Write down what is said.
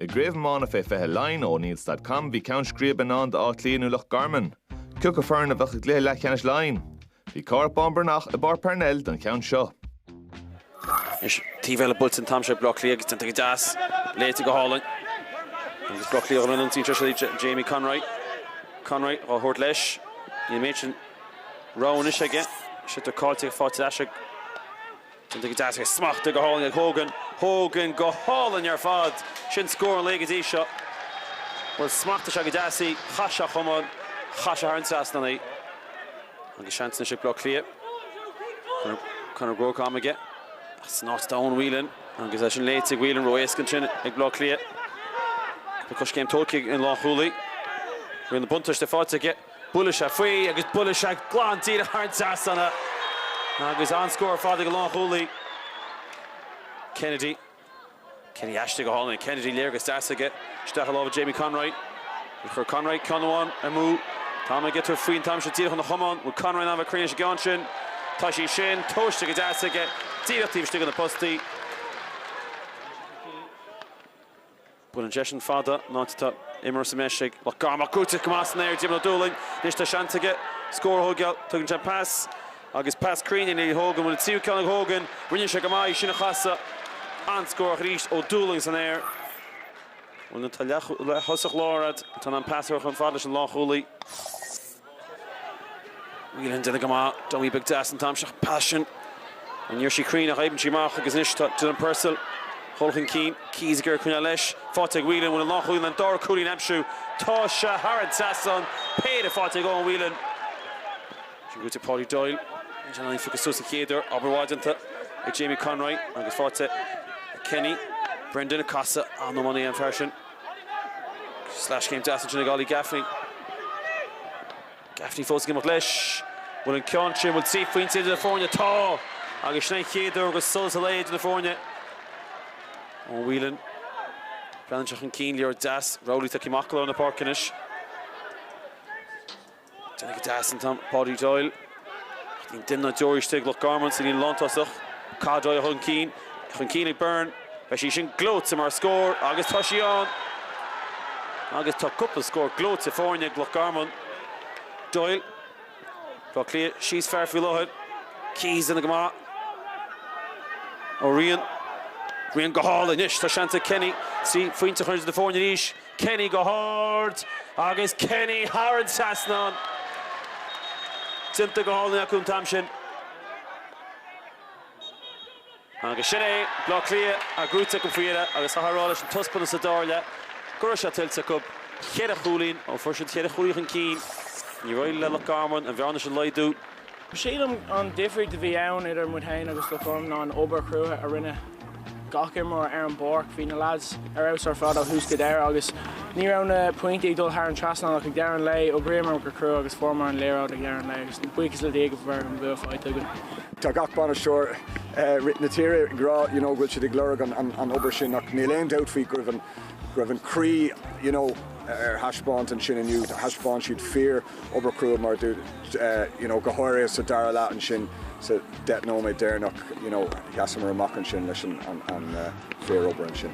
I gCraobh Iomána Fé 20 Laighean, O'Neills dot com, bhí ceann scríbe i ndán d'Áth Cliath nó Loch Garman. Cé acu foireann a bheadh i gcluiche leathcheannais Laighean. Bhí Cárthach Bán Breathnach i bPáirc Parnell don cheann seo. Anois taobh eile buailte an t-am seo ag Baile Átha Cliath agus déanta go deas, léite go hálainn agus Baile Átha Cliath a rinne an tslí seo siúd, Jamie Conroy. Conroy dhá thabhairt leis. Níl an méid sin rogha anois aige. Sliotar caillte faighte leis ag. Cinnte go dteastaíonn smacht go hálainn ag Hogan. Hogan go hálainn ar fad. Sin scór an lae go dtí seo. Bhuel, smacht is ea go dteastaí. Chaith sé a chamán. Chaith sé thar an trasnán í. Agus seans anois ag Bleá Cliath. Conor Groarke am aige. San áit atá Eoin Whelan. Agus é sin léite ag Whelan. Ró-éasca ansin ag Bleá Cliath. Tá coiscéim tógtha ag an lánchúlaí. Rinne buntáiste faighte aige. Buaileadh sé faoi agus buaileadh sé glan díreach thar an trasnán agus an-scór fada ag an lánchúlaí. Kennedy. Kennedy aisti go hálainn. Kennedy léargas deas aige isteach i lámha Jamie Conroy. Chuir Conroy ceann amháin amú. Táim ag iontú faoin t-am seo díreach ón chamán. Bhfuil Conroy in ann a bheith cruinn leis an gceann sin? Tá sí sin tomhaiste go deas aige díreach taobh istigh de na postaí. Buaileann seisean fada an áit atá imreoir sa mbreis ag Loch Garman ach buaite go maith san aer Diarmaid Ó Dúlaing. Anois tá seans aige scór a thógáil. Tugann sé pas agus pas cruinn ina dhiaidh Hogan. Bhfuil an tríú ceann ag Hogan. Rinne sé go maith í sin a chasadh. An-scór ach arís Ó Dúlaing san aer. Bhuel nuair atá leath-thosaí láir agat atá in ann pas a chur chomh fada leis an lánchúlaí. Whelan, déanta go maith. Dummy beag deas an t-am seo. Pas sin, ní raibh sí cruinn ach oibríonn sí amach agus anois tá Dylan Purcell dhul chun cinn. Keys ag iarraidh coinneáil leis. Faighte ag Whelan bhfuil an lánchúlaí in ann dara cúilín a aimsiú. Tá sé thar an trasnán. Péire faighte ag Eoin Whelan. Sin gaoite Paudie Doyle. Níl sé in ann í phiocadh suas sa chéad uair. Obair mhaith déanta ag Jamie Conroy agus faighte ag Kenny. Brendan ag casadh. An-iománaí an fear sin. Sleaschéim deas ansin ag Ollie Gaffney. Gaffney fós ag imeacht leis. Bhfuil an ceann sin, bhfuil trí phointe idir na foirne? Tá! Agus sin an chéad uair go raibh solas an lae idir na foirne. Ó Whelan bhreathnaigh sé chun cinn, léargas deas. Rowley tagtha amach go lár na páirce anois. Déanta go deas an t-am Paudie Doyle. Ach níl duine ná deoraí istigh. Loch Garman sa líne lántosaigh. Cathal Doyle chun cinn. É chun cinn ag Byrne. Beidh sí sin gleoite mar scór agus tá sí ann! Agus tá cúpla scór gleoite faighte ag Loch Garman. Doyle. Baile Átha Cliath síos fear faoi láthair. Keys déanta go maith. Ó Riain. Riain go hálainn. Anois tá seans ag Kenny trí phointe a chur idir na foirne arís. Kenny go hard agus Kenny thar an trasnán. Déanta go hálainn acu an t-am sin. Agus sin é, Bleá Cliath á chruthú acu faoi dheireadh agus chaithfeá a rá leis an taispeántas sa dara leath go raibh sé tuillte acu. Ceithre chúilín, ó fuair siad ceithre chúilín chun cinn, níor éirigh le Loch Garman an bhearna sin a laghdú. Sílim an difríocht a bhí ann idir muid féin agus Loch Garman ná an obair chrua a rinne gach imreoir ar an bpáirc. Bhí na leaids ar fheabhas ar fad ó thús go deireadh agus ní raibh na pointí ag dul thar an trasnán ach ag deireadh an lae, d'oibríomar go crua agus fuaireamar an liathróid ag deireadh an lae agus buíochas le Dia go bhfuil an bua faighte againn. Tá gach bainisteoir sa tír ag rá you know go bhfuil siad ag lorg an obair sin ach níl aon dabht faoi go raibh an croí you know ar thaispeáint ansin inniu, thaispeáin siad fíor. obair chrua mar a dúirt you know go háirithe sa dara leath ansin sa deich nóiméad deireanach you know sheasamar amach ansin leis an an, an uh, fíor obair ansin.